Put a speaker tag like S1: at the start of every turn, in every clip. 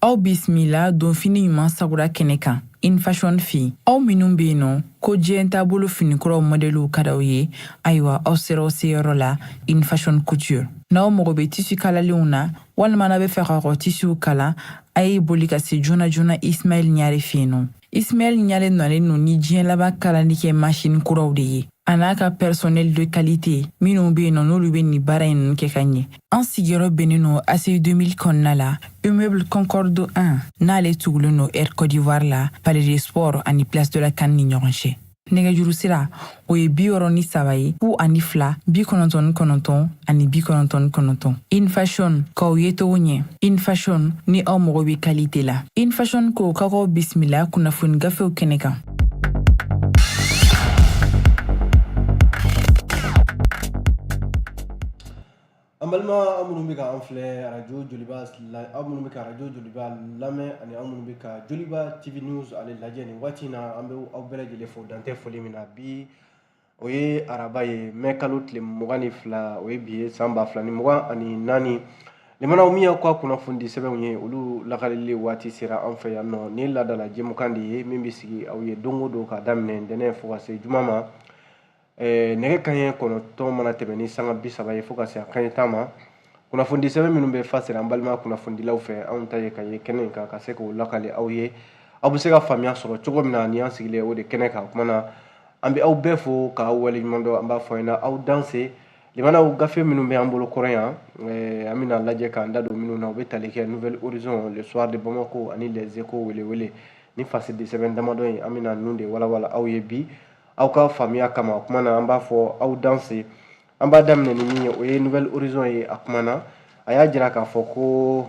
S1: aw bisimila donfini ɲuman sagura kɛnɛ kan In Fashion fe aw minnu be yen nɔ ko diɲɛ taabolo finikuraw mɔdɛliw ka d'aw ye ayiwa aw sera aw seyɔrɔ la In Fashion couture n'aw mago be tisi kalalenw na walima n'a be fɛ ka kɔ tisiw kala a ye boli ka se joona joona ismail ɲare fe yen nɔ Ismail Ɲare nɔlen no ni diɲɛ laban kalali kɛ masini kuraw de ye a n'a ka personnel de qualité minnu bɛ yen nɔ n'olu bɛ nin baara in ninnu kɛ ka ɲɛ an sigiyɔrɔ bɛnnen no ACI 2000 kɔnɔna la immeuble concorde 1 n'ale tugulen no air côte d'ivoire la palais des sports ani place de la CAN ni ɲɔgɔn cɛ nɛgɛjuru sira o ye bi wɔɔrɔ ni saba ye fu ani fila bi kɔnɔntɔn ni kɔnɔntɔn ani bi kɔnɔntɔn ni kɔnɔntɔn In Fashion k'aw yecogo ɲɛ In Fashion ni aw mago be kalite la In Fashion ko ka k'aw bisimila kunnafoni gafew kɛnɛ kan
S2: An balima aw minnu bɛ k'an filɛ arajo joliba la aw minnu bɛ ka arajo joliba lamɛn ani aw minnu bɛ ka joliba TV news ale lajɛ nin waati in na an bɛ aw bɛɛ lajɛlen fo dan tɛ foli min na bi o ye araba ye mai kalo tile mugan ni fila o ye bi ye san ba fila ni mugan ani naani limanaw min y'aw ka kunnafoni sɛbɛnw ye olu lakalili waati sera an fɛ yan nɔ ni laadala jɛmukan de ye min bɛ sigi aw ye don o don k'a daminɛ ntɛnɛn fo ka se juma ma eh, nɛgɛ kaɲɛ kɔnɔtɔn mana tɛmɛ ni sanga bi saba ye fo ka se a kaɲɛ tan ma kunnafoni sɛbɛn minnu bɛ fa sera an balima kunnafonidilaw fɛ anw ta ye ka ye kɛnɛ in kan ka se k'o lakale aw ye aw bɛ se ka faamuya sɔrɔ cogo min na ni an sigilen o de kɛnɛ kan kuma na an bɛ aw bɛɛ fo k'aw waleɲuman dɔn an b'a fɔ ɲɛna aw danse limanaw gafe minnu bɛ an bolo kɔrɔ yan eh, an bɛna lajɛ k'an da don minnu na u bɛ tali kɛ nouvel horizon le soir de bamako ani les échos welewele ni fasidisɛbɛn damadɔ in an bɛna ninnu de walawala aw ye bi aw ka faamuya kama o kuma na an b'a fɔ aw danse an b'a daminɛ ni min ye o ye nouvel horizon ye a kumana a y'a jira k'a fɔ ko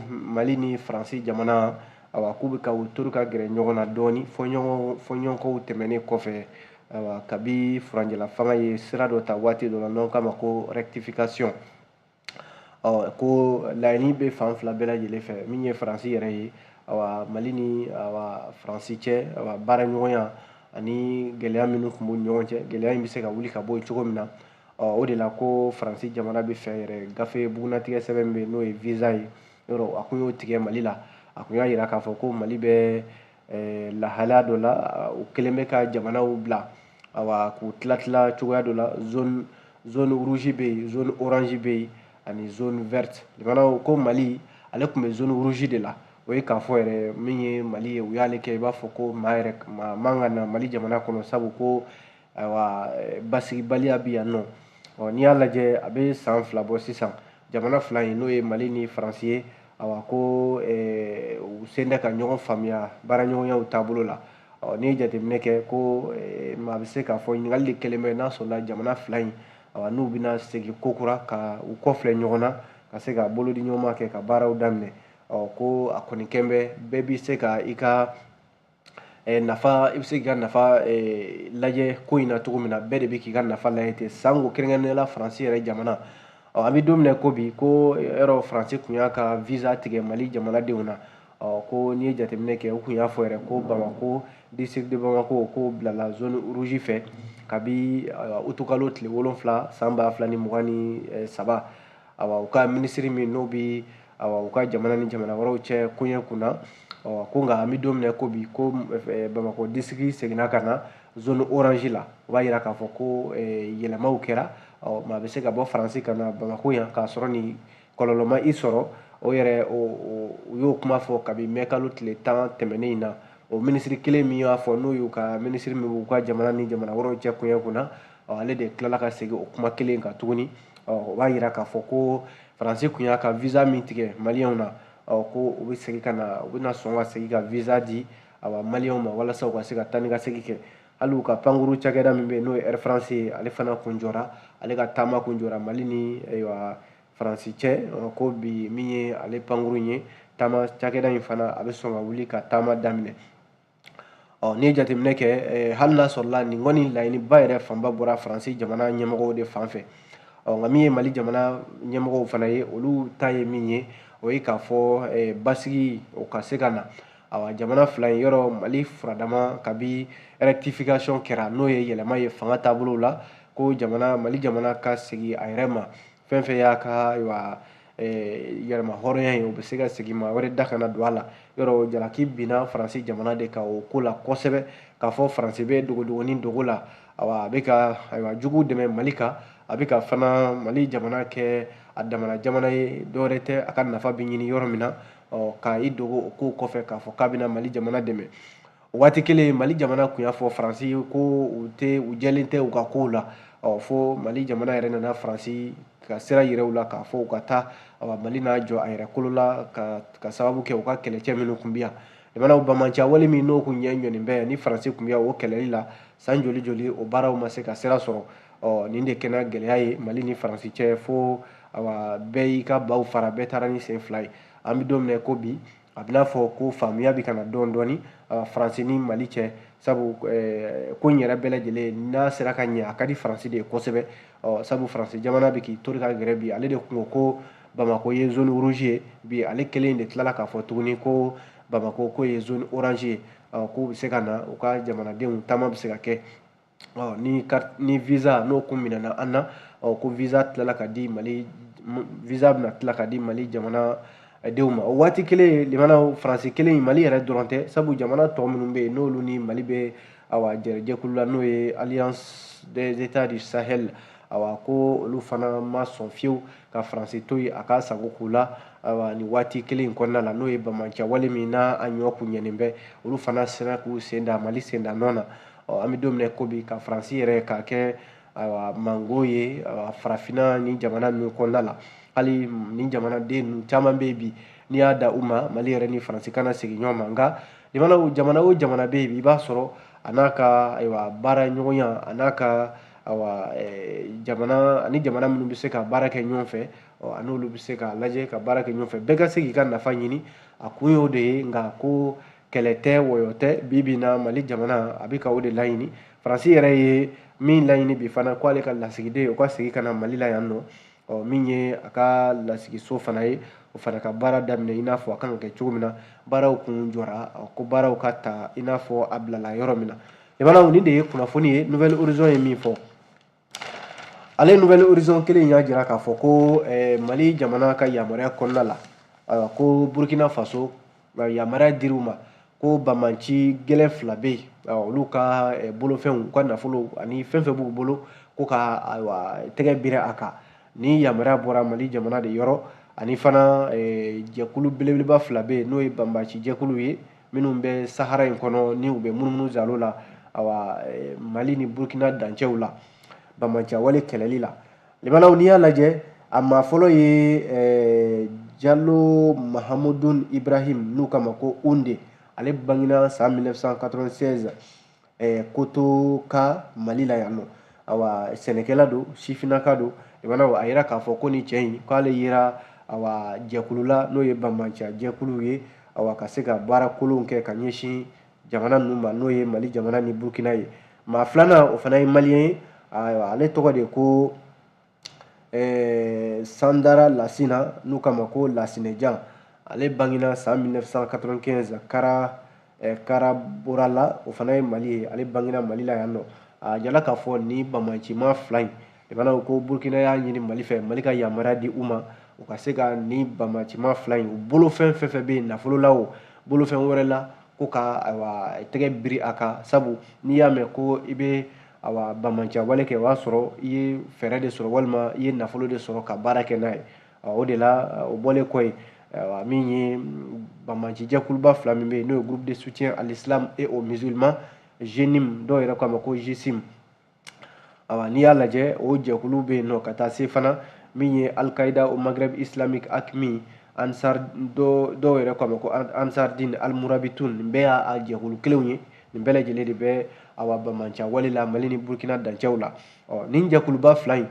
S2: mali ni faransi jamana awa k'u bɛ ka u tori ka gɛrɛ ɲɔgɔn na dɔɔni fɔɲɔgɔnkɔw tɛmɛnen kɔfɛ awa kabi furanjɛla fanga ye sira dɔ ta waati dɔ la n'an k'a ma ko rectification ko laɲini bɛ fan fila bɛɛ lajɛlen fɛ min ye faransi yɛrɛ ye awa mali ni awa faransi cɛ awa baara ɲɔgɔnya ani gɛlɛya minnu tun b'u ɲɔgɔn cɛ gɛlɛya in bɛ se ka wuli ka bɔ yen cogo min na o de la ko faransi jamana bɛ fɛ yɛrɛ gafe bugunnatigɛ sɛbɛn min bɛ n'o ye visa ye yɔrɔ a kun y'o tigɛ mali la a kun y'a jira k'a fɔ ko mali bɛ eh, lahalaya dɔ la u kɛlen bɛ ka jamanaw bila awa k'u tilatila cogoya dɔ la zone zone rouge bɛ yen zone orange bɛ yen ani zone verte jamanaw ko mali ale tun bɛ zone rouge de la o ye k'a fɔ yɛrɛ min ye mali ye u y'ale kɛ i b'a fɔ ko maa yɛrɛ maa man ka na mali jamana kɔnɔ sabu ko ayiwa eh, basigibaliya bi yan nɔ ɔ n'i y'a lajɛ a bɛ san fila bɔ sisan jamana fila in n'o ye mali ni faransi ye awa ko eh, u sen tɛ ka ɲɔgɔn faamuya baaraɲɔgɔnya taabolo la ɔ n'i ye jateminɛ kɛ ko eh, maa bɛ se k'a fɔ ɲininkali de kɛlen bɛ n'a sɔrɔla jamana fila in awa n'u bɛna segin ko kura ka u kɔfilɛ ɲɔgɔn na ka se ka bolodi ɲɔgɔnma kɛ ka baaraw daminɛ ɔ ko a kɔni kɛn bɛ bɛɛ bɛ se ka i ka nafa i bɛ se k'i ka nafa lajɛ ko in na cogo min na bɛɛ de bɛ k'i ka nafa lajɛ ten sanko kɛrɛnkɛrɛnnenya la faransi yɛrɛ jamana ɔ an bɛ don min na ko bi ko yɔrɔ faransi tun y'a ka visa tigɛ mali jamanadenw na ɔ ko n'i ye jateminɛ kɛ u tun y'a fɔ yɛrɛ ko bamako district de bamako ko bilala zone rouge fɛ kabi utukalo tile wolonfila san ba fila ni mugan ni saba u ka minisiri min n'o bɛ u ka jamana ni jamana wɛrɛw cɛ koɲɛ kun na ko nka an bɛ don min na ko bi ko bamakɔ district seginna ka na zone orange la o b'a jira k'a fɔ ko yɛlɛmaw kɛra ɔ maa bɛ se ka bɔ faransi ka na bamakɔ yan k'a sɔrɔ nin kɔlɔlɔ ma i sɔrɔ o yɛrɛ u y'o kuma fɔ kabi mɛ kalo tile tan tɛmɛnen in na o minisiri kelen min y'a fɔ n'o y'u ka minisiri min b'u ka jamana ni jamana wɛrɛw cɛ koɲɛ kun na ale de tilala ka segin o kuma kelen kan tuguni o b'a yira k'a fɔ ko faransi tun y'a ka visa min tigɛ maliyɛnw na ko u bɛ segin ka na u bɛna sɔn ka segin ka visa di awa maliyɛnw ma walasa u ka se ka taa ni ka segin kɛ hali u ka pankuru cakɛda min bɛ yen n'o ye air france ye ale fana kun jɔra ale ka taama kun jɔra mali ni ayiwa faransi cɛ ko bi min ye ale pankuru ye taama cakɛda in fana a bɛ sɔn ka wuli ka taama daminɛ ɔ n'i ye jateminɛ kɛ eh, hali n'a sɔrɔla nin kɔni laɲiniba yɛrɛ fanba bɔra faransi jamana ɲɛmɔgɔw de fan fɛ ɔ nka min ye mali jamana ɲɛmɔgɔw fana ye olu ta ye min ye o ye k'a fɔ eh, basigi o ka se ka na awa jamana fila in yɔrɔ mali furadama kabi rectification kɛra n'o ye yɛlɛma ye fanga taabolow la ko jamana mali jamana ka segin a yɛrɛ ma fɛn fɛn y'a ka ayiwa yɛrɛmahɔrɔnya ye o bɛ se ka segin maa wɛrɛ da kana don a la yɔrɔ jalaki binna faransi jamana de kan o ko la kosɛbɛ k'a fɔ faransi bɛ dogodogoni dogo la awa a bɛ ka ayiwa jugu dɛmɛ mali kan a bɛ ka fana mali jamana kɛ a damana jamana ye dɔwɛrɛ tɛ a ka nafa bɛ ɲini yɔrɔ min na ɔ ka i dogo o ko kɔfɛ k'a fɔ k'a bɛna mali jamana dɛmɛ waati kelen mali jamana tun y'a fɔ faransi ye ko u tɛ u jɛlen tɛ u ka kow la ɔ fo mali jamana yɛrɛ nana faransi ka sira yira u la k'a fɔ u ka taa mali n'a jɔ a yɛrɛ kolo la ka, ka sababu kɛ u ka kɛlɛcɛ minnu tun bɛ yan jamanaw banbaanciya wale min n'o kun ɲɛ ɲɔnin bɛ ni faransi tun bɛ o kɛlɛli la san joli joli o baaraw ma se ka sira sɔrɔ ɔ nin de kɛra gɛlɛya ye mali ni faransi cɛ fo awa bɛɛ y'i ka baw fara bɛɛ taara ni sen fila ye an bɛ don min na ko bi a bɛna fɔ ko faamuya bɛ ka na dɔɔni dɔɔni faransi ni mali cɛ sabu ko in yɛrɛ bɛɛ lajɛlen n'a sera ka ɲɛ a ka di faransi de ye kosɛbɛ sabu faransi jamana bɛ k'i tori ka gɛrɛ bi ale de kun ko bamako ye zone rouge ye bi ale kelen de tilala k'a fɔ tuguni ko bamako ko ye zone orange ye k'u bɛ se ka na u ka jamanadenw taama bɛ se ka kɛ ni ni visa n'o kun minɛna an na ko visa tilala ka di mali visa bɛna tila ka di mali jamana denw ma o waati kelen limanaw faransi kelen in mali yɛrɛ dɔrɔn tɛ sabu jamana tɔ minnu bɛ yen n'olu ni mali bɛ awa jɛkulu la n'o ye alliance des états du sahel awa ko olu fana ma sɔn fiyewu ka faransi to yen a ka sago k'u la awa nin waati kelen in kɔnɔna la n'o ye banbaciya wale min n'a a ɲɔ kun ɲɛnen bɛ olu fana sera k'u sen da mali sen da nɔ na ɔ an bɛ don min na ko bi ka faransi yɛrɛ k'a kɛ ayiwa mango ye farafinna ni jamana ninnu kɔnɔna la hali ni jamanaden ninnu caman bɛ yen bi n'i y'a da u ma mali yɛrɛ ni faransi kana segin ɲɔgɔn ma nka jamana o jamana o jamana bɛ yen bi i b'a sɔrɔ a n'a ka ayiwa baara ɲɔgɔnya a n'a ka awa eh, jamana ani jamana minnu bɛ se ka baara kɛ ɲɔgɔn fɛ a n'olu bɛ se ka lajɛ ka baara kɛ ɲɔgɔn fɛ bɛɛ ka se k'i ka nafa ɲini a kun y'o de ye nka ko kɛlɛ tɛ wɔyɔ tɛ bi bi na mali jamana a bɛ ka o de laɲini faransi yɛrɛ ye min laɲini bi fana k'ale ka lasigiden o ka segin ka na mali la yan nɔ ɔ min ye a ka lasigiso fana ye o fana ka baara daminɛ i n'a fɔ a kan ka kɛ cogo min na baaraw kun jɔra ko baaraw ka ta i n'a fɔ a bilala yɔrɔ min na limanaw nin de ye kunnafoni ye nouvel horizon ye min fɔ ale nouvel horizon kelen y'a jira k'a fɔ ko eh, mali jamana ka yamaruya kɔnɔna la ayiwa ko burkina faso yamaruya dir'u ma ko banbaci gɛlɛn fila bɛ yen olu ka eh, bolofɛnw u ka nafolo ani fɛn fɛn b'u bolo ko ka ayiwa tɛgɛ biri a kan nin yamaruya bɔra mali jamana de yɔrɔ ani fana eh, jɛkulu belebeleba fila bɛ yen n'o ye banbaci jɛkulu ye minnu bɛ sahara in kɔnɔ ni u bɛ munumunu zalo la awa eh, mali ni burkina dancɛw la banbaciya wale kɛlɛli la limanaw n'i y'a lajɛ a maa fɔlɔ ye eh, jalo mahamudun ibrahim n'u k'a ma ko unde ale bangina san 1996 eh, koto ka mali la yan nɔ awa sɛnɛkɛla don sifinaka don limanaw a yira k'a fɔ ko nin cɛ in k'ale yera awa jɛkulu la n'o ye banbaciya jɛkulu ye awa ka se ka baara kolonw kɛ ka ɲɛsin jamana ninnu ma n'o ye mali jamana ni burkina ye maa filanan o fana ye maliyɛn ye ayiwa ale tɔgɔ de ko eh, sandara lasina n'u k'a ma ko lasinejan ale bangena san 1995 kara eh, karaborala o fana ye mali ye ale bangena mali la yan nɔ a jala k'a fɔ ni bamancima fila in i b'a ko burukina y'a ɲini mali fɛ mali ka yamaruya di u ma u ka se ka ni bamancima fila in u bolofɛn fɛn fɛn bɛ yen nafolo la o bolofɛn wɛrɛ la ko ka ayiwa tɛgɛ biri a kan sabu n'i y'a mɛn ko i bɛ awa bamanciya wale kɛ o y'a sɔrɔ i ye fɛɛrɛ de sɔrɔ walima i ye nafolo de sɔrɔ ka baara kɛ n'a ye o de la o bɔlen kɔ ye min ye bamanci jɛkuluba fila min bɛ yen n'o ye groupe de soutien à l'islam et aux musulmans JNIM dɔw yɛrɛ k'a ma ko GSIM awa n'i y'a lajɛ o jɛkulu bɛ yen nɔ ka taa se fana min ye al qaida au maghreb islamique AQMI ansar dɔw yɛrɛ k'a ma ko ansardin al murabitun nin bɛɛ y'a jɛkulu kelenw ye nin bɛɛ lajɛlen de bɛ awa bamanciya wale la mali ni burkina dancɛw la ɔ nin jɛkuluba fila in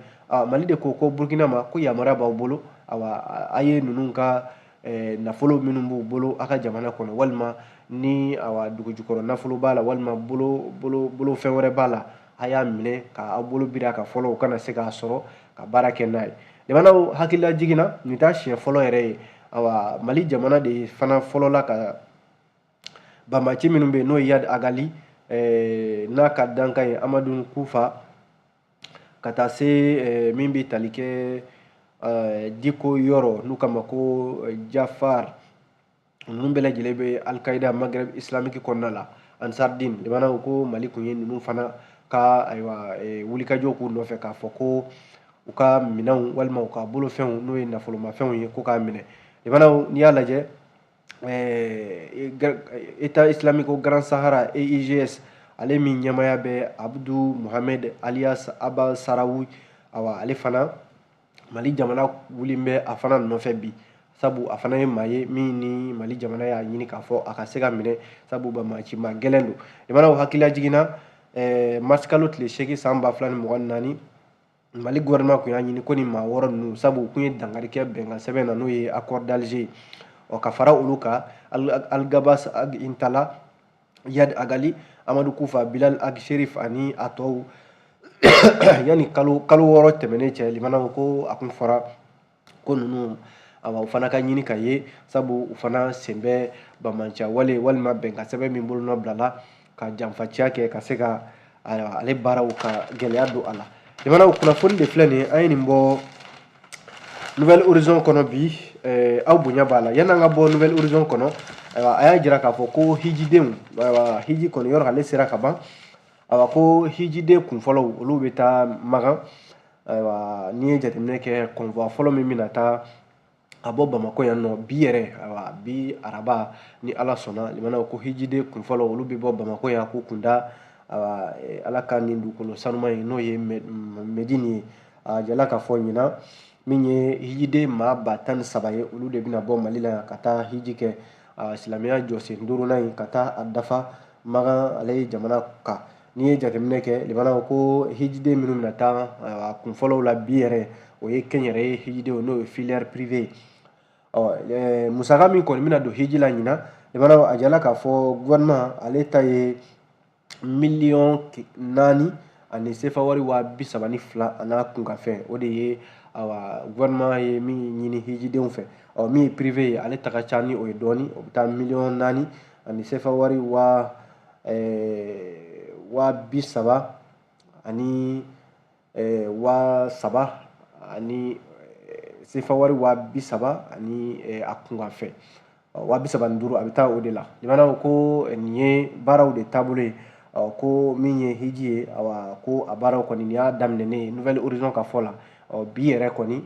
S2: mali de ko ko burkina ma ko yamaruya b'aw bolo awa a ye ninnu ka eh, nafolo minnu b'u bolo a ka jamana kɔnɔ walima ni awa dugujukɔrɔ nafolo b'a la walima bolo bolo bolo fɛn wɛrɛ b'a la a y'a minɛ ka aw bolo biri a kan fɔlɔ u kana se k'a sɔrɔ ka baara kɛ n'a ye limanaw hakilila jiginna nin t'a siɲɛ fɔlɔ yɛrɛ ye awa mali jamana de fana fɔlɔ la ka banbaaci minnu bɛ yen n'o ye yad agali eh, n'a ka dankan ye amadu kufa ka taa se eh, min bɛ tali kɛ eh, diko yɔrɔ n'u k'a ma ko jafar ninnu bɛɛ lajɛlen bɛ al qaida maghreb islamique kɔnɔna la ansardin limanaw ko mali kun ye ninnu fana ka ayiwa wulikajɔ k'u nɔfɛ k'a fɔ ko u ka minɛnw walima u ka bolofɛnw n'o ye nafolomafɛnw ye ko k'a minɛ limanaw n'i y'a lajɛ eh, état islamique au grand sahara EIGS ale min ɲɛmaaya bɛ abdu mohamed alias aba sarawi awa ale fana mali jamana wulilen bɛ a fana nɔfɛ bi sabu a fana ye maa ye min ni mali jamana y'a ɲini k'a fɔ a ka se ka minɛ sabu bamancima gɛlɛn don limanaw hakilila jiginna eh, mars kalo tile seegin san ba fila ni mugan ni naani mali gouvernement kun y'a ɲini ko ni maa wɔɔrɔ ninnu sabu u kun ye dankari kɛ bɛnkan sɛbɛn na n'o ye accord d'alger ɔ ka fara olu kan algabas ag intala yad agali amadu kufa bilal ag sherif ani a tɔw yanni kalo kalo wɔɔrɔ tɛmɛnen cɛ limana ko a kun fɔra ko ninnu awa u fana ka ɲini ka ye sabu u fana sen bɛ bamanciya wale walima bɛnkan sɛbɛn min bolonɔ bilala ka janfaciya kɛ ka se ka ale baaraw ka gɛlɛya don a la limanaw kunnafoni de filɛ nin ye an ye nin bɔ nouvel horizon kɔnɔ bi eh, aw bonya b'a la yan'an ka bɔ nouvel horizon kɔnɔ ayiwa a y'a jira k'a fɔ ko hijidenw ayiwa hiji kɔni yɔrɔ ale sera ka ban awa ko hijiden kunfɔlɔw olu bɛ taa makan ayiwa n'i ye jateminɛ kɛ convoi fɔlɔ min bɛna taa a bɔ bamakɔ yan nɔ bi yɛrɛ ayiwa bi araba ni ala sɔnna limana ko hijiden kunfɔlɔ olu bɛ bɔ bamakɔ yan k'u kunda ayiwa eh, ala ka nin dugukolo sanuman ye n'o ye medini ye a jala k'a fɔ ɲinan min ye hijiden maa ba tan ni saba ye olu de bɛna bɔ mali la yan ka taa hiji kɛ silamɛya jɔsen duurunan in ka taa a dafa magan ale ye jamana kan n'i ye jateminɛ kɛ limana ko hijiden minnu na taa a kunfɔlɔw la bi yɛrɛ o ye kɛnyɛrɛye hijidenw n'o ye filière privée ye musaka min kɔni bɛna don hiji la ɲinan limana a jala k'a fɔ gouvernement ale ta ye miliyɔn naani ani sefa wari waa bi saba ni fila an'a kunkanfɛn o de ye awa gouvernement ye min ɲini hijidenw fɛ ɔ min ye privé ye ale ta ka ca ni o ye dɔɔni o bɛ taa miliyɔn naani ani sefa wari waa waa bi saba ani waa saba ani sefa wari waa bi saba ani a kunkanfɛn waa bi saba ni duuru a bɛ taa o de la limana ko nin ye baaraw de taabolo ye ko min ye hiji ye awa ko a baaraw kɔni nin y'a daminɛnen ye nouvel horizon ka fɔ la bi yɛrɛ kɔni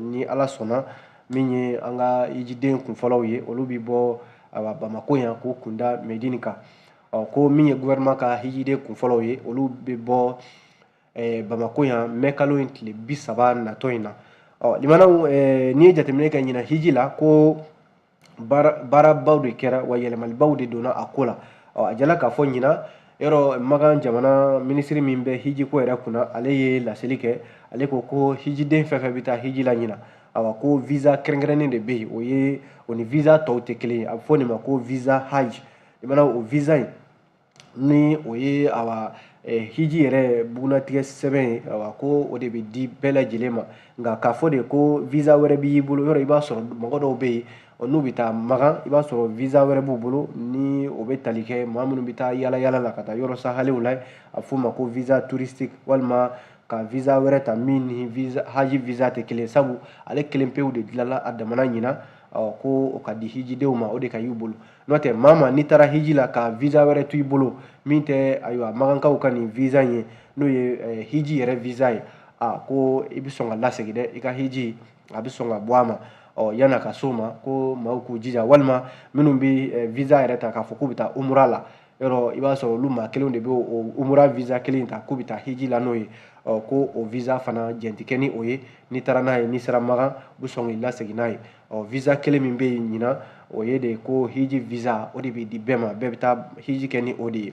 S2: ni ala sɔnna min ye an ka hijiden kunfɔlɔw ye olu bɛ bɔ a bamakɔ yan k'u kunda medini kan ɔ ko min ye gouvernement ka hijiden kunfɔlɔw ye olu bɛ bɔ eh, bamakɔ yan mɛkalo in tile bi saba natɔ in na ɔ limana eh, n'i ye jateminɛ kɛ ɲinan hiji la ko baarabaw de kɛra wa yɛlɛmalibaw de donna a ko la ɔ a jala k'a fɔ ɲinan yɔrɔ makan jamana minisiri min bɛ hijiko yɛrɛ kunna ale ye laseli kɛ ale ko ko hijiden fɛn fɛn bɛ taa hiji la ɲinan awa ko visa kɛrɛnkɛrɛnnen de bɛ yen o ye o ni visa tɔw tɛ kelen ye a bɛ fɔ nin ma ko visa haj limana o visa in ni o ye awa hiji yɛrɛ bugunnatigɛ sɛbɛn ye awa ko o de bɛ di bɛɛ lajɛlen ma nka k'a fɔ de ko visa wɛrɛ b'i bolo yɔrɔ i b'a sɔrɔ mɔgɔ dɔw bɛ yen ɔ n'u bɛ taa magan i b'a sɔrɔ visa wɛrɛ b'u bolo ni o bɛ tali kɛ maa minnu bɛ taa yala yala la ka taa yɔrɔ sahalew la a f'o ma ko visa touristique walima ka visa wɛrɛ ta min ni visa haji visa tɛ kelen sabu ale kelen pewu de dilanna a damana ɲinan ɔ ko o ka di hijidenw ma o de ka y'u bolo n'o tɛ maa ma n'i taara hiji la ka visa wɛrɛ to i bolo min tɛ ayiwa magankaw ka nin visa in ye n'o ye eh, hiji yɛrɛ visa ye a ko i bɛ sɔn ka lasegin dɛ i ka hiji a bɛ sɔn ka bɔ a ma ɔ yan'a ka s'o ma ko maaw k'u jija walima minnu bɛ eh, visa yɛrɛ ta k'a fɔ k'u bɛ taa umura la yɔrɔ i b'a sɔrɔ olu maa kelenw de bɛ o umura visa kelen ta k'u bɛ taa hiji la n'o ye ɔ ko o visa fana jɛn tɛ kɛ ni o ye n'i taara n'a ye n'i sera magan u bɛ sɔn k'i lasegin n'a ye ɔ visa kelen min bɛ yen ɲinan o ye de ko hiji visa o de bɛ di bɛɛ ma bɛɛ bɛ taa hiji kɛ ni o de ye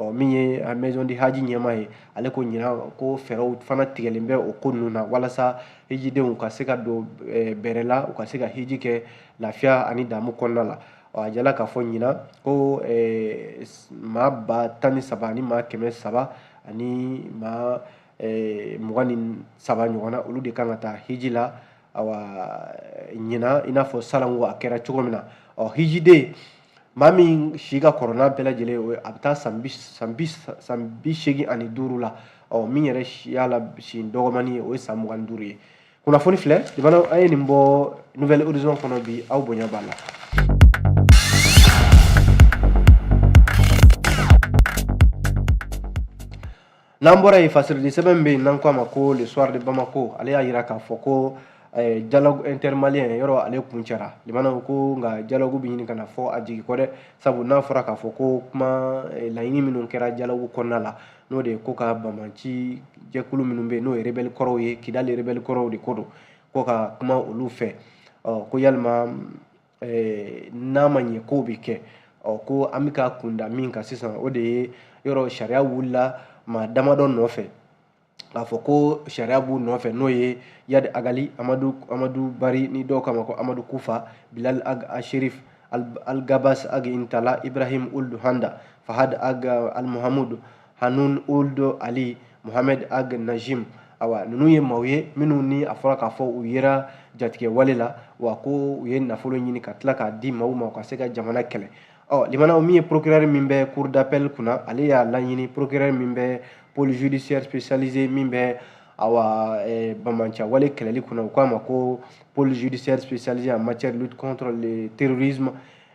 S2: ɔ min ye a maison du hadj ɲɛmaa ye ale ko ɲinan ko fɛɛrɛw fana tigɛlen bɛ o ko ninnu na walasa hijidenw ka se ka don eh, bɛrɛ la u ka se ka hiji kɛ lafiya ani damu kɔnɔna la ɔ a jirala k'a fɔ ɲinan ko eh, maa ba tan ni saba ani maa kɛmɛ saba ani maa eh, mugan ni saba ɲɔgɔn na olu de kan ka taa hiji la awa ɲinan i n'a fɔ salon ko a kɛra cogo min na ɔ hijiden maa min si ka kɔrɔ n'a bɛɛ lajɛlen o a bɛ taa san bi san bi san bi seegin ani duuru la ɔ min yɛrɛ y'a la si dɔgɔmani ye o ye san mugan ni duuru ye kunnafoni filɛ jamana an ye nin bɔ nouvel horizon kɔnɔ bi aw bonya b'a la n'an bɔra yen fasirili sɛbɛn bɛ yen n'an k'a ma ko le soir de bamako ale y'a jira k'a fɔ ko eh, dialogue intermalien yɔrɔ ale kuncɛra limanaw ko nka dialogue bɛ ɲini ka na fɔ a jigi kɔ dɛ sabu n'a fɔra k'a fɔ ko kuma eh, laɲini minnu kɛra dialogue kɔnɔna la n'o de ye ko ka banbaanci jɛkulu minnu bɛ yen n'o ye rebɛli kɔrɔw ye kidali rebɛli kɔrɔw de ko don ko ka kuma olu fɛ ɔ ko yalima eh, n'a ma ɲɛ k'o bɛ kɛ ɔ ko an bɛ ka kunda min kan sisan o de ye yɔrɔ sariya wulila maa damadɔ nɔfɛ k'a fɔ ko sariya b'u nɔfɛ n'o ye iyad ag ghali amadu amadu bari ni dɔw k'a ma ko amadu kufa bilal ag asherif al, al gabas ag intala ibrahim uld handa fahad ag al muhamudu hanun uld ali mohamed ag najim awa ninnu ye maaw ye minnu ni a fɔra k'a fɔ u yera jatigɛ wale la wa ko u ye nafolo ɲini ka tila k'a di maaw ma u ka se ka jamana kɛlɛ ɔ limanaw min ye procureur min bɛ cour d'appel kunna ale y'a laɲini procureur min bɛ pôle judiciaire spécialisé min bɛ awa eh, banbaanci wale kɛlɛli kunna u k'a ma ko pôle judiciaire spécialisé en matière de lutte contre le terrorisme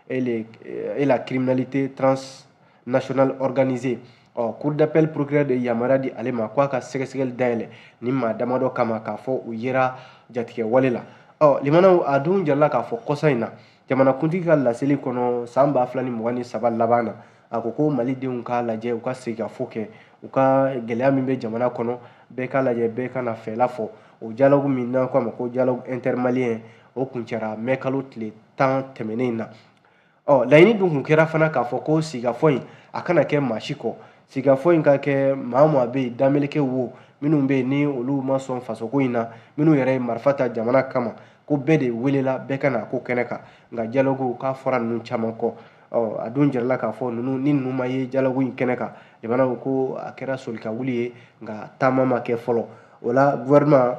S2: et, les, eh, et la criminalité trans nationale organisée ɔ cour d'appel procureur de yamaruya di ale ma k'a ka sɛgɛsɛgɛli dayɛlɛ nin maa damadɔ kama k'a fɔ u yera jatigɛ wale la ɔ limanaw a dun jirala k'a fɔ kɔsa in na jamanakuntigi ka laseli kɔnɔ san ba fila ni mugan ni saba laban na a ko ko mali denw k'a lajɛ u ka sigikafɔ kɛ u ka gɛlɛya min bɛ jamana kɔnɔ bɛɛ k'a lajɛ bɛɛ ka n'a fɛla fɔ o dialogue min n'an k'a ma ko dialogue intermalien o kuncɛra mɛ kalo tile tan tɛmɛnen na ɔ laɲini dun kun kɛra fana k'a fɔ ko sigikafɔ in a kana kɛ maa si kɔ sigikafɔ in ka kɛ maa o maa bɛ yen dameleke wo minnu bɛ yen ni olu ma sɔn fasoko in na minnu yɛrɛ ye marifa ta jamana kama ko bɛɛ de welela bɛɛ ka na ko kɛnɛ kan nka dialogue k'a fɔra ninnu caman kɔ ɔ a dun jirala k'a fɔ ninnu ni ninnu ma ye dialogue in kɛnɛ kan jamana ko ko a kɛra soli ka wuli ye nka taama ma kɛ fɔlɔ o la gouvernement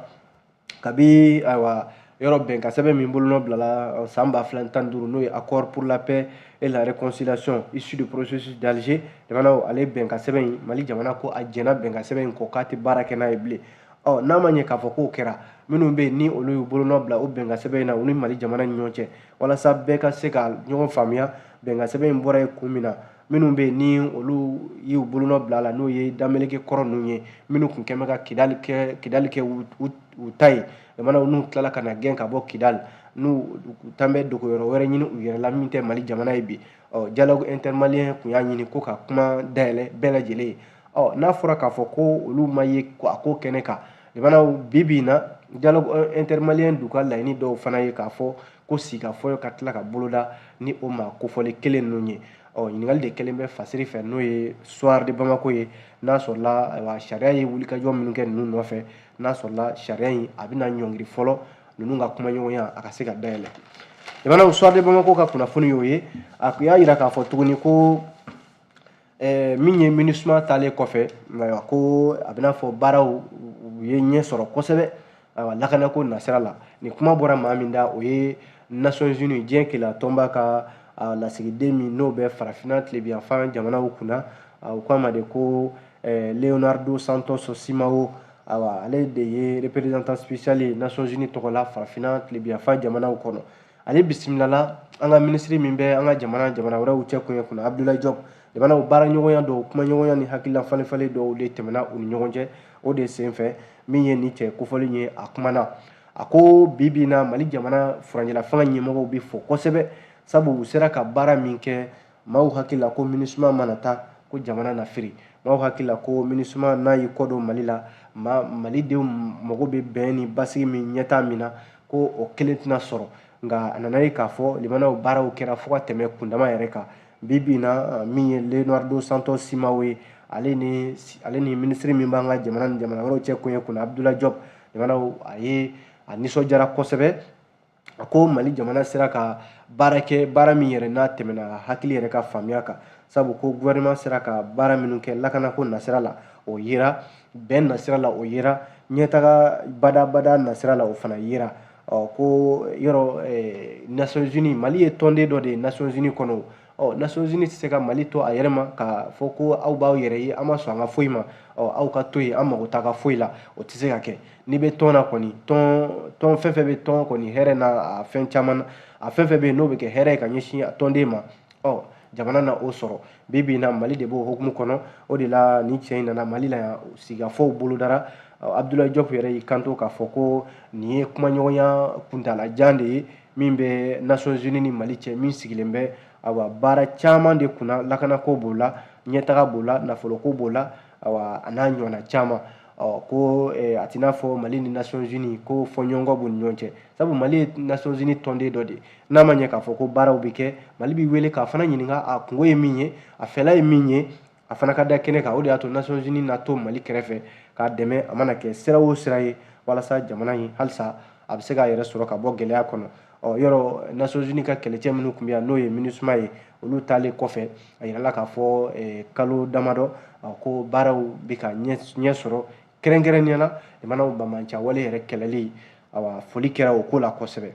S2: kabi ayiwa yɔrɔ bɛnkan sɛbɛn min bolonɔ bilala san ba fila tan duuru n'o ye accord pour la paix et la réconciliation issu du processus d'Alger jamanaw ale bɛnkan sɛbɛn in mali jamana ko a jɛna bɛnkan sɛbɛn in kɔ k'a tɛ baara kɛ n'a ye bilen ɔ n'a ma ɲɛ k'a fɔ k'o kɛra minnu bɛ yen ni olu y'u bolonɔ bila o bɛnkan sɛbɛn in na u ni mali jamana ni ɲɔgɔn cɛ walasa bɛɛ ka se ka ɲɔgɔn faamuya bɛnkan sɛbɛn in bɔra yen kun min na minnu bɛ yen ni olu y'u bolonɔ bila a la n'o ye dameleke kɔrɔ ninnu ye minnu tun kɛlen bɛ ka kidali kɛ kidali kɛ u ta ye jamana n'u tilala ka na gɛn ka bɔ kidali n'u taalen bɛ dogoyɔrɔ wɛrɛ ɲini u yɛrɛ la min tɛ mali jamana ye bi ɔ dialogue intermalien tun y'a ɲini ko ka kuma dayɛlɛ bɛɛ lajɛlen ye ɔ n'a fɔra k'a fɔ ko olu ma ye a ko kɛnɛ kan jamanaw bi bi in na dialogue intermalien dun ka laɲini dɔw fana ye k'a fɔ ko sigikafɔ ka tila ka boloda ni o maa kofɔlen kelen ninnu ye ɔ ɲininkali de kɛlen bɛ fasiri fɛ n'o ye soir de bamako ye n'a sɔrɔla ayiwa sariya ye wulikajɔ minnu kɛ ninnu nɔfɛ n'a sɔrɔla sariya in a bɛna ɲɔngiri fɔlɔ ninnu ka kumaɲɔgɔnya a ka se ka dayɛlɛ jamanaw soir de bamako ka kunnafoni y'o ye a tun y'a jira k'a fɔ tuguni ko Eh, min ye minisuma taalen kɔfɛ ayiwa ko a bɛna fɔ baaraw u ye ɲɛ sɔrɔ kosɛbɛ ayiwa lakanako nasira la nin kuma bɔra maa min da o ye nations unies diɲɛ kelenya tɔnba ka lasigiden min n'o bɛ farafina tilebiyanfan jamanaw kunna u k'a ma de ko eh, leonardo santos simao ayiwa ale de ye représentant spécial ye nations unies tɔgɔ la farafina tilebiyanfan jamanaw kɔnɔ ale bisimilala an ka minisiri min bɛ an ka jamana jamana wɛrɛw cɛ koɲɛw kunna abdoulaye diop jamanaw baaraɲɔgɔnya dɔw kumaɲɔgɔnya ni hakilila falenfalen dɔw de tɛmɛna u ni ɲɔgɔn cɛ o de senfɛ min ye nin cɛ kofɔlen ye a kumana a ko bi bi na mali jamana furancɛlafanga ɲɛmɔgɔw bɛ fo kosɛbɛ sabu u sera ka baara min kɛ maaw hakili la ko minisuma mana taa ko jamana na firi maaw hakili la ko minisuma n'a y'i kɔdon mali la ma malidenw mago bɛ bɛn ni basigi min ɲɛtaa min na ko o kelen tɛna sɔrɔ nka a nana ye k'a fɔ limanaw baaraw kɛra fo ka tɛmɛ kundama yɛrɛ kan bi bi in na min ye leonardo santos simao ye ale ni ale ni minisiri min b'an ka jamana ni jamana wɛrɛw cɛ koɲɛw kunna abdoulaye diop limanaw a ye a nisɔndiyara kosɛbɛ a ko mali jamana sera ka baara kɛ baara min yɛrɛ n'a tɛmɛna hakili yɛrɛ ka faamuya kan sabu ko gouvernement sera ka baara minnu kɛ lakanako nasira la o yera bɛn nasira la o yera ɲɛtaga badabada nasira la o fana yera ɔ ko yɔrɔ eh, nations unies mali ye tɔnden dɔ de ye nations unies kɔnɔ ɔ nations unies tɛ se ka mali to a yɛrɛ ma k'a fɔ ko aw b'aw yɛrɛ ye an ma sɔn an ka foyi ma ɔ aw ka to yen an mago t'a ka foyi la o tɛ se ka kɛ n'i bɛ tɔn na kɔni tɔn tɔn fɛn fɛn bɛ tɔn kɔni hɛrɛ na a fɛn caman na a fɛn fɛn bɛ yen n'o bɛ kɛ hɛrɛ ye ka ɲɛsin a tɔnden ma ɔ jamana na o sɔrɔ bi bi in na mali de b'o hukumu kɔnɔ o de la nin cɛ in nana mali la yan sigikafɔw bolodara abdulayi jɔp yɛrɛ y'i kanto k'a fɔ ko nin ye kumaɲɔgɔnya kuntalajan de ye min bɛ nations unies ni mali cɛ min sigilen bɛ awa baara caman de kunna lakanako b'o la ɲɛtaga b'o la nafoloko b'o la awa a n'a ɲɔgɔnna caman ɔ ko eh, a t'i n'a fɔ mali ni nations unies ko fɔɲɔgɔnkɔ b'u ni ɲɔgɔn cɛ sabu mali ye nations unies tɔnden dɔ de ye n'a ma ɲɛ k'a fɔ ko baaraw bɛ kɛ mali b'i wele k'a fana ɲininka a kungo ye min ye a fɛla ye min ye a fana ka da kɛnɛ kan o de y'a to nations unies na to mali kɛrɛfɛ k'a dɛmɛ a mana kɛ sira o sira ye walasa jamana in halisa a bɛ se k'a yɛrɛ sɔrɔ ka bɔ gɛlɛya kɔnɔ ɔ yɔrɔ nations unies ka kɛlɛcɛ minnu tun bɛ yan n'o ye minusuma ye olu taalen kɔfɛ a yirala k'a fɔ eh, kalo damadɔ ko baaraw bɛ ka ɲɛ sɔrɔ kɛrɛnkɛrɛnnenya la jamanaw banbaanciya wale yɛrɛ kɛlɛli awa foli kɛra o ko la kosɛbɛ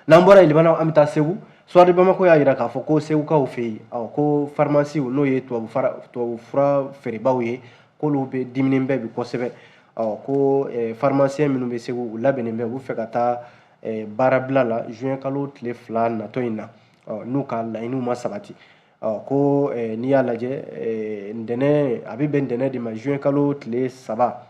S2: n'an bɔra yen limanaw an bɛ taa segu soir de bamako y'a jira k'a fɔ ko segukaw fɛ yen ɔ ko farimasiw n'o ye tubabu fura feerebaaw ye k'olu bɛɛ diminen bɛ bi kosɛbɛ ɔ ko farimasiyɛn minnu bɛ segu u labɛnnen bɛ u bɛ fɛ ka taa baarabila la juin kalo tile fila natɔ in na n'u ka laɲiniw ma sabati ko n'i y'a lajɛ ntɛnɛn a bɛ bɛn ntɛnɛn de ma juin kalo tile saba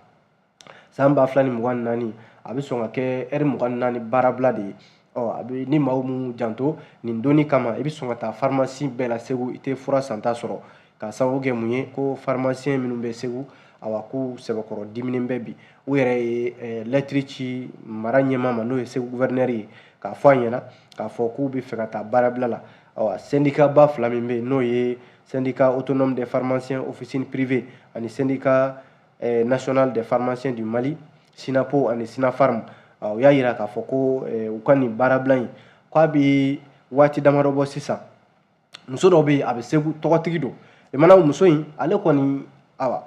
S2: san ba fila ni mugan ni naani a bɛ sɔn ka kɛ ɛri mugan ni naani baarabila de ye ɔ a bɛ ni maaw m'u janto nin don in kama i bɛ sɔn ka taa farimasi bɛɛ la segu i tɛ fura santa sɔrɔ k'a sababu kɛ mun ye ko farimasiyɛn minnu bɛ segu awa k'u sɛbɛkɔrɔ diminen bɛ bi u yɛrɛ ye eh, lɛtiri ci mara ɲɛmaa ma n'o ye segu guvɛrinɛri ye k'a fɔ a ɲɛ na k'a fɔ k'u bɛ fɛ ka taa baarabila la awa sɛndika ba fila min bɛ yen n'o ye sɛndika autonome des pharmaciens officine privée ani sɛndika eh, national des pharmaciens du mali sinapo ani sinafarm ah, u y'a yira k'a fɔ ko eh, u ka nin baarabila in k'a bɛ waati damadɔ bɔ sisan muso dɔ bɛ yen a bɛ segu tɔgɔtigi don limana muso in ale kɔni awa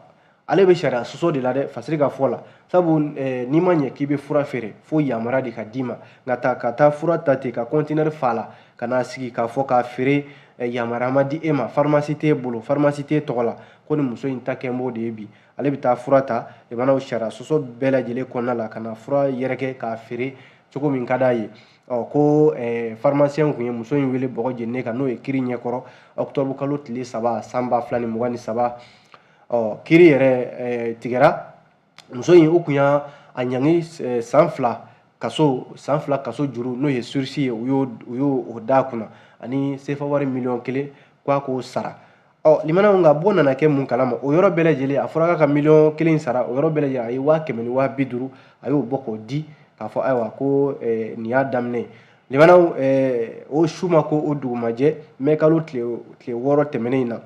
S2: ale bɛ sariya sɔsɔ de la dɛ fasiri ka fɔ la sabu eh, n'i ma ɲɛ k'i bɛ fura feere fo yamaruya de ka d'i ma nka ta ka taa fura ta ten ka kɔntinɛri fa la ka n'a sigi k'a fɔ k'a feere eh, yamaruya ma di e ma farimasi t'e bolo farimasi t'e tɔgɔ la ko nin muso in ta kɛlen b'o de ye bi ale bɛ taa fura ta limanaw sariya sɔsɔ bɛɛ lajɛlen kɔnɔna la ka na fura yɛrɛkɛ k'a feere cogo min ka d'a ye ɔ ko farimasiyɛn tun ye muso in wele bɔgɔ jeninen kan n'o ye kiri ɲɛkɔrɔ ɔkutɔbu kalo tile saba san ba fila ni mugan ni saba ɔ kiri yɛrɛ tigɛra muso in u tun y'a a ɲangi eh, san fila kaso san fila kaso juru n'o ye surisi ye u y'o u y'o d'a kunna ani sefa wari miliyɔn kelen ko a k'o sara ɔ limanaw nka bɔ nana kɛ mun kalama o yɔrɔ bɛɛ lajɛlen a fɔra k'a ka miliyɔn kelen sara o yɔrɔ bɛɛ lajɛlen a ye waa kɛmɛ ni waa bi duuru a y'o bɔ k'o di k'a fɔ ayiwa ko eh, nin y'a daminɛ ye limanaw eh, o su ma ko o dugumajɛ mɛ kalo tile tile wɔɔrɔ tɛmɛnen in na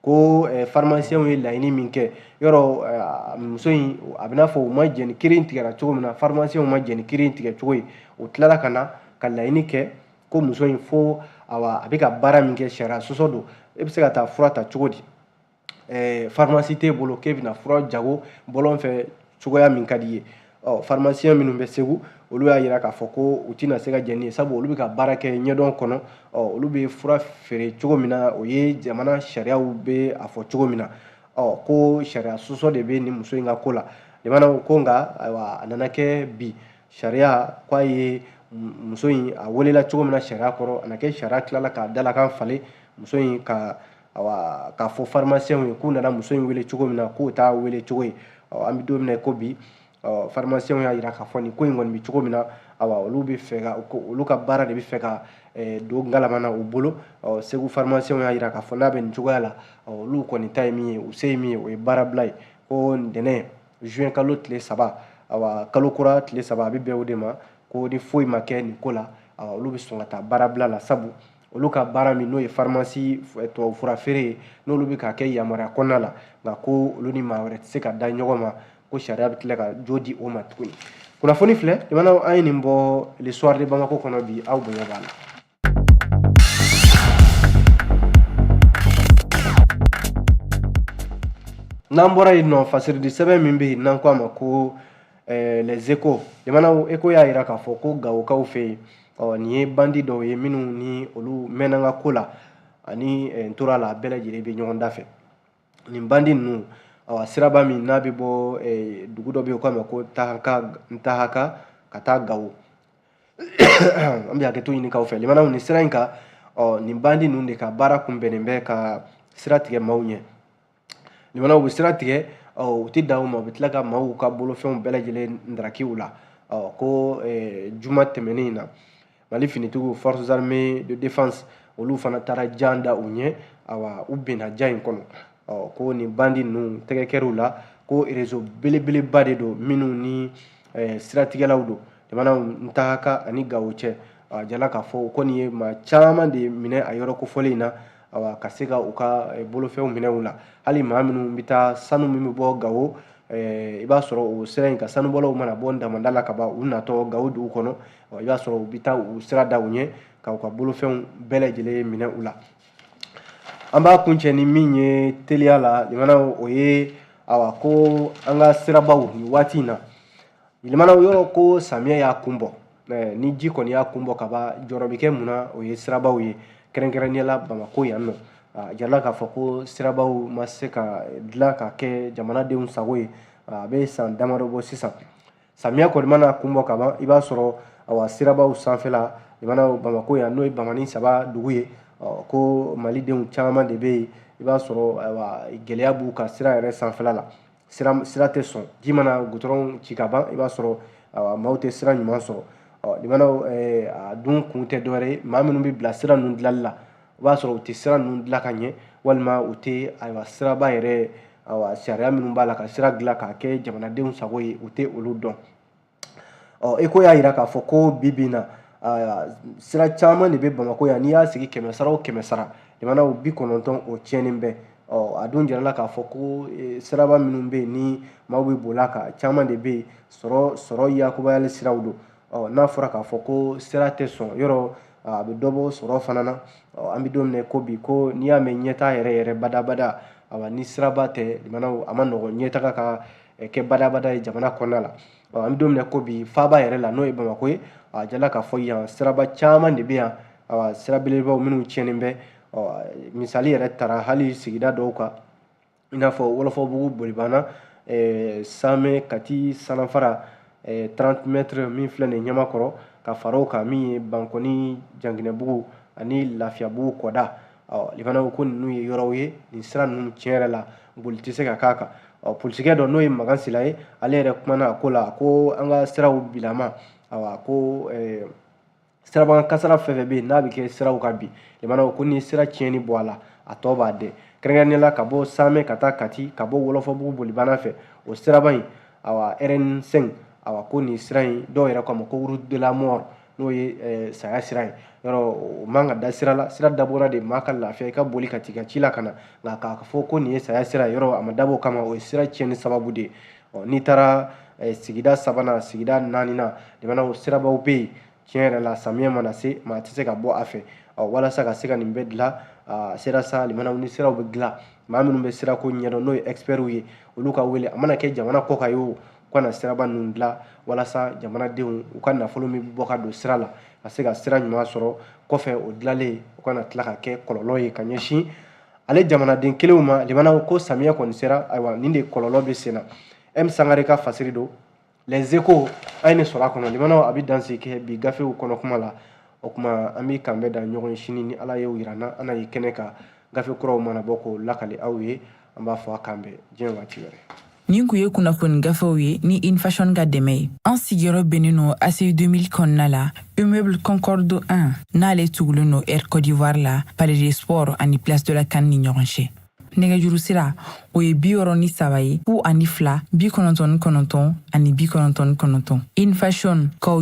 S2: ko eh, farmasiyɛnw ye laɲini min kɛ yɔrɔ eh, muso in a bɛ n'a fɔ u ma jɛn ni kiri in tigɛra cogo min na farmasiyɛnw ma jɛn ni kiri in tigɛ cogo ye u tilala ka na ka laɲini kɛ ko muso in fo awa a bɛ ka baara min kɛ sariya sɔsɔ don e bɛ se ka taa fura ta cogo di eh, farimasi t'e bolo k'e bɛna fura jago bɔlɔn fɛ cogoya min ka d'i ye ɔ farmasiyɛn minnu bɛ segu olu y'a jira k'a fɔ ko u tɛna se ka jɛn ni ye sabu olu bɛ ka baara kɛ ɲɛdɔn kɔnɔ ɔ olu bɛ fura feere cogo min na o ye jamana sariyaw bɛ a fɔ cogo min na ɔ ko sariya sɔsɔ de bɛ nin muso in ka ko la limanaw ko nka ayiwa a nana kɛ bi sariya k'a ye muso in a welela cogo min na sariya kɔrɔ a na kɛ sariya tilala k'a dalakan falen muso in ka awa k'a fɔ farmasiyɛnw ye k'u nana muso in wele cogo min na k'o t'a wele cogo ye an bɛ don min na ko bi farmasiyɛnw y'a jira k'a fɔ nin ko in kɔni bɛ cogo min na awa olu bɛ fɛ ka olu ka baara de bɛ fɛ ka don galama na u bolo segu farmasiyɛnw y'a jira k'a fɔ n'a bɛ nin cogoya la olu kɔni ta ye min ye u se ye min ye o ye baarabila ye ko ntɛnɛn juin kalo tile saba awa kalo kura tile saba a bɛ bɛn o de ma ko ni foyi ma kɛ nin ko la awa olu bɛ sɔn ka taa baarabila la sabu olu ka baara min n'o ye farimasi eh, tubabufura feere ye n'olu bɛ k'a kɛ yamaruya kɔnɔna la nka ko olu ni maa wɛrɛ tɛ se ka da ɲɔgɔn ma ko sariya bɛ tila ka jo di o ma tuguni kunnafoni filɛ jamanaw an ye nin bɔ le soir de bamako kɔnɔ bi aw bonya b'a la n'an bɔra yen ɔ fasiridi sɛbɛn min bɛ yen n'an ko a ma ko eh, les échos jamanaw échos y'a jira k'a fɔ ko gawokaw fɛ yen ɔ nin ye bandi dɔw ye minnu ni olu mɛnna ka ko la ani eh, n tora la bɛɛ lajɛlen bɛ ɲɔgɔn da fɛ nin bandi ninnu awa siraba min n'a bɛ bɔ eh, dugu dɔ bɛ yen k'a ma ko tahaka ntahaka ka taa gawo an bɛ hakɛto ɲini k'aw fɛ limanaw nin sira in kan ɔ nin bandi ninnu de ka baara kun bɛnnen bɛ ka sira tigɛ maaw ɲɛ ɲamana u bɛ sira tigɛ u tɛ dan o ma u bɛ tila ka maaw ka bolofɛnw bɛɛ lajɛlen ndaraki u la ko juma tɛmɛnen in na mali finitigiw forces armées de défense olu fana taara jan da u ɲɛ awa u binna jan in kɔnɔ ko nin bandi ninnu tɛgɛ kɛr'u la ko rezo belebeleba de don minnu ni siratigɛlaw don jamana ntahaka ani gawo cɛ a jirala k'a fɔ ko nin ye maa caman de minɛ a yɔrɔ kofɔlen in na awa ka se ka u ka eh, bolofɛnw minɛ u la hali maa minnu bɛ taa sanu min bɛ bɔ gawo eh, i b'a sɔrɔ o sira in ka sanubɔlaw mana bɔ damanda la ka ban u natɔ gawo dugu kɔnɔ i b'a sɔrɔ u bɛ taa u sira da u ɲɛ ka u ka bolofɛnw bɛɛ lajɛlen minɛ u la an b'a kuncɛ ni min ye teliya la jamana o ye awa ko an ka sirabaw nin waati in na Yɛlɛmana yɔrɔ ko samiyɛ y'a kun bɔ ni ji kɔni y'a kun bɔ ka ban jɔrɔ bɛ kɛ mun na o ye sirabaw ye kɛrɛnkɛrɛnnenya la bamakɔ yan ɔ a jirala k'a fɔ ko sirabaw ma se ka dilan ka kɛ jamanadenw sago ye a bɛ san damadɔ bɔ sisan samiya kɔni mana kun bɔ ka ban i b'a sɔrɔ a sirabaw sanfɛla jamana bamakɔ yan n'o ye bamani saba dugu ye ko malidenw caman de bɛ yen i b'a sɔrɔ gɛlɛya b'u ka sira yɛrɛ sanfɛla la sira tɛ sɔn ji mana gutɔrɔn ci ka ban i b'a sɔrɔ maaw tɛ sira ɲuman sɔrɔ limanaw a dun kun tɛ dɔwɛrɛ ye maa minnu bɛ bila sira ninnu dilanli la i b'a sɔrɔ u tɛ sira ninnu dilan ka ɲɛ walima u tɛ ayiwa siraba yɛrɛ ayiwa sariya minnu b'a la ka sira dilan k'a kɛ jamanadenw sago ye u tɛ olu dɔn ɔ eko y'a jira k'a fɔ ko bi bi in na sira caman de bɛ bamakɔ yan n'i y'a sigi kɛmɛ sara o kɛmɛ sara jamanaw bi kɔnɔntɔn o tiɲɛnen bɛ ɔ a dun jirala k'a fɔ ko e, siraba minnu bɛ yen ni maaw bɛ boli a kan caman de bɛ yen sɔrɔ sɔrɔ yakubayali siraw don ɔ n'a fɔra k'a fɔ ko sira tɛ sɔn yɔrɔ a bɛ dɔ bɔ sɔrɔ fana na ɔ an bɛ don min na ko bi ko n'i y'a mɛn ɲɛtaa yɛrɛ yɛrɛ badabada awa ni siraba tɛ jamanaw a ma nɔgɔn ɲɛtaga ka kɛ badabada ye jamana kɔnɔna la ɔ an bɛ don min na ko bi faaba yɛrɛ la n'o ye bamakɔ ye a jirala k'a fɔ yan siraba caman de bɛ yan awa sira belebelebaw minnu tiɲɛnen bɛ ɔ misali yɛrɛ tara hali sigida dɔw kan i n'a fɔ wɔlɔfɔbugu bolibana samɛ kati sanafara eh, 30 mètres min filɛ nin ɲamakɔrɔ ka fara o kan min ye bankɔni janginɛbugu ani lafiyabugu kɔda ɔ fana ko ko ninnu ye yɔrɔw ye nin sira ninnu tiɲɛ yɛrɛ la boli tɛ se ka k'a kan ɔ polisikɛ dɔ n'o ye makan sila ye ale yɛrɛ kumana a ko la ko an ka siraw bilama awa ko eh, siraba kasaara fɛn fɛn bɛ yen n'a bɛ kɛ siraw kan bi limanaw ko ni sira tiɲɛni bɔ a la a tɔ b'a dɛ kɛrɛnkɛrɛnnenya la ka bɔ samɛ ka taa kati ka bɔ wɔlɔfɔbugu bolibana fɛ o siraba in awa rn 5 awa ko nin sira in dɔw yɛrɛ k'a ma ko route de la mort n'o ye eh, saya sira ye yɔrɔ o man ka da sira la sira dabɔra de maa ka lafiya i ka boli ka t'i ka ci la ka na nka k'a fɔ ko nin ye saya sira ye yɔrɔ a ma dabɔ o kama o ye sira tiɲɛni sababu de ye ɔ n'i taara eh, sigida sabanan sigida naaninan limanaw sirabaw bɛ yen tiɲɛ yɛrɛ la samiyɛ mana se maa tɛ se ka bɔ a fɛ ɔ walasa ka se ka nin bɛɛ dilan a sera sa limanaw ni siraw bɛ dilan maa minnu bɛ sirako ɲɛdɔn n'o ye expertw ye olu ka wele a mana kɛ jamana kɔkan ye o u ka na siraba ninnu dilan walasa jamanadenw u ka nafolo min bɛ bɔ ka don sira la ka se ka sira ɲuman sɔrɔ kɔfɛ o dilanlen u kana tila ka kɛ kɔlɔlɔ ye ka ɲɛsin ale jamanaden kelenw ma limanaw ko samiyɛ kɔni sera ayiwa nin de kɔlɔlɔ bɛ senna m sangare ka fasiri don les échos an ye nin sɔrɔ a kɔnɔ limanaw an bɛ dansigi kɛ bi gafew kɔnɔ kuma la o kuma an bɛ kanbɛn da ɲɔgɔn ye sini ni ala y'o yira an na an na ye kɛnɛ kan gafe kuraw mana bɔ k'o lakali aw ye an b'a fɔ a k'an bɛn diɲɛ waati wɛrɛ Nin kun ye
S1: kunnafoni gafew ye ni infashion ka dɛmɛ ye an sigiyɔrɔ bɛnnen no ACI 2000 kɔnɔna la immeuble concorde 1 n'ale tugulen no air côte d'ivoire la palais des sports ani place de la CAN ni ɲɔgɔn cɛ nɛgɛjuru sira o ye bi wɔɔrɔ ni saba ye fu ani fila bi kɔnɔntɔn ni kɔnɔntɔn ani bi kɔnɔntɔn ni kɔnɔntɔn infashion kaw